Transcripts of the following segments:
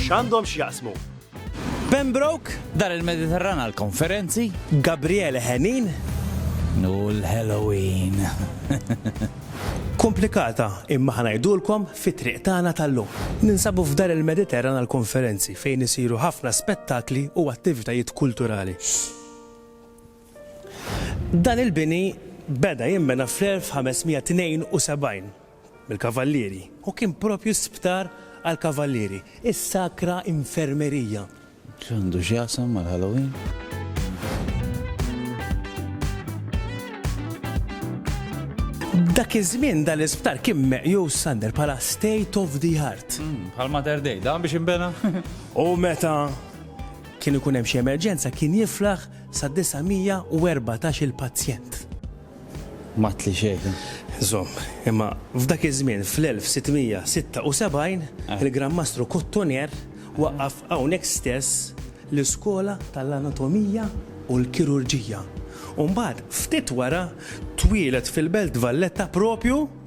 X'għandhom x'jaqsmu? Pembroke, Dar il-Mediterran għall-konferenzi. Gabriele Henin. U l-Halloween. Komplikata, imma ħa ngħidulkom fit-triq tagħna tal-lum. Ninsabu f'Dar il-Mediterran għall-konferenzi fejn isiru ħafna spettakli u attivitajiet kulturali. Dan il-bini beda jinbena fl-1572. mill-kavallieri u kien proprju sptar għall-kavallieri, is-Sacra Infermeria. X'għandu x'jaqsam mal-Halloween? Dak iż-żmien dan l-isptar kien meqjus Sander bħala state of the art. Hmm, bħal Mater Dei, dan biex imbena. U meta kien ikun hemm xi emerġenza kien jiflaħ sa 914 il-pazjent. M'għadtli xejn. Żomm, imma f'dak iż-żmien fl-1676 il-Gran Mastru Cotoner waqqaf hawnhekk stess l-iskola tal-anatomija u l-kirurġija u mbagħad ftit wara twieled fil-Belt Valletta proprju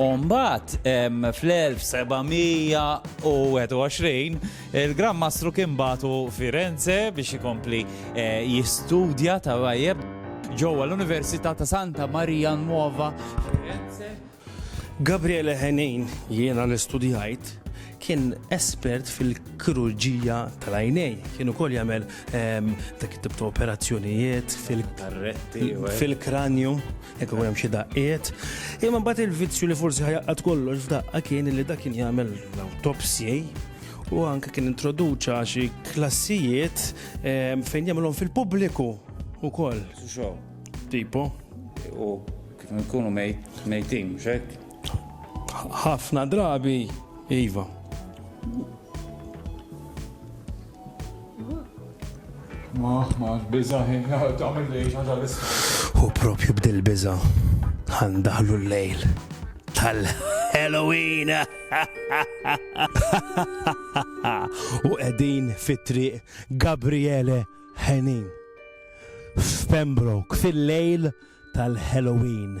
U mbagħad fl-1721 il-Gran Mastru kien bagħtu Firenze biex ikompli eh, jistudja ta' tajjeb ġewwa l-Università ta' Santa Maria Nuova Firenze. Gabriele Henin jiena l-istudjajt kien espert fil-kirurġija tal-għajnej. Kien ukoll jagħmel ehm, dak it-tip ta' operazzjonijiet fil-kranju. Jekk ikun hemm xi daqqiet. Imma mbagħad il-vizzju li forsi ħajaqqad kollox f'daqqa kien li dak kien jagħmel l-autopsji u anke kien introduċa xi klassijiet eh, fejn jagħmilhom fil-pubbliku ukoll. Tipo. U kif nkunu mejtin, xek? Ħafna drabi, iva. Ma, ma, biza ħin, għamil li ħaġa l-isma. U propju bdil biza, għandaħlu l-lejl. Tal-Halloween! U edin fit-triq Gabriele Henin. F'Pembroke, fil-lejl tal-Halloween.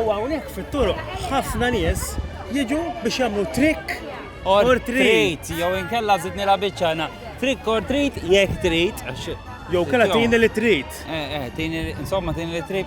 U hawnhekk fit-turuq ħafna nies jiġu biex jagħmlu trick or treat. Jew inkella żidni la biċċa na. Trick or treat jekk trid. Jew kella tini li trid. Eh, eh, tini, insomma, tini li trid.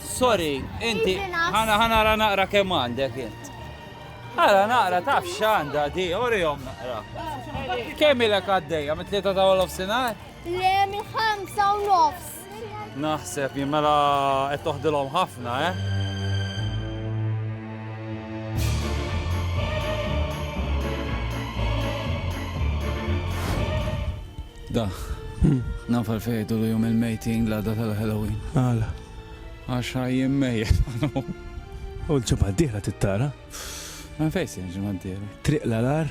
Sorry, inti, ħana ħanara naqra kemm għandek int. Ħana naqra taf x'għandha di, orihom naqra. Kemm ilek għaddejja mit tlieta ta' wolof sinar? Le minn ħamsa u nofs. Naħseb jimmela qed toħdilhom ħafna, eh? Da, hmm. nafal fejdu l-jum il-mejting la da tal-Halloween. Għala. Għax ħa jien mejjet. U l-ġimgħa d-dieħla tittara? Ma fejn se l-ġimgħa d-dieħla? Triq l-alar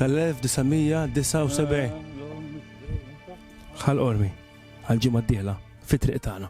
tal-1979. Ħal qormi għal-ġimgħa d-dieħla fit-triq tagħna.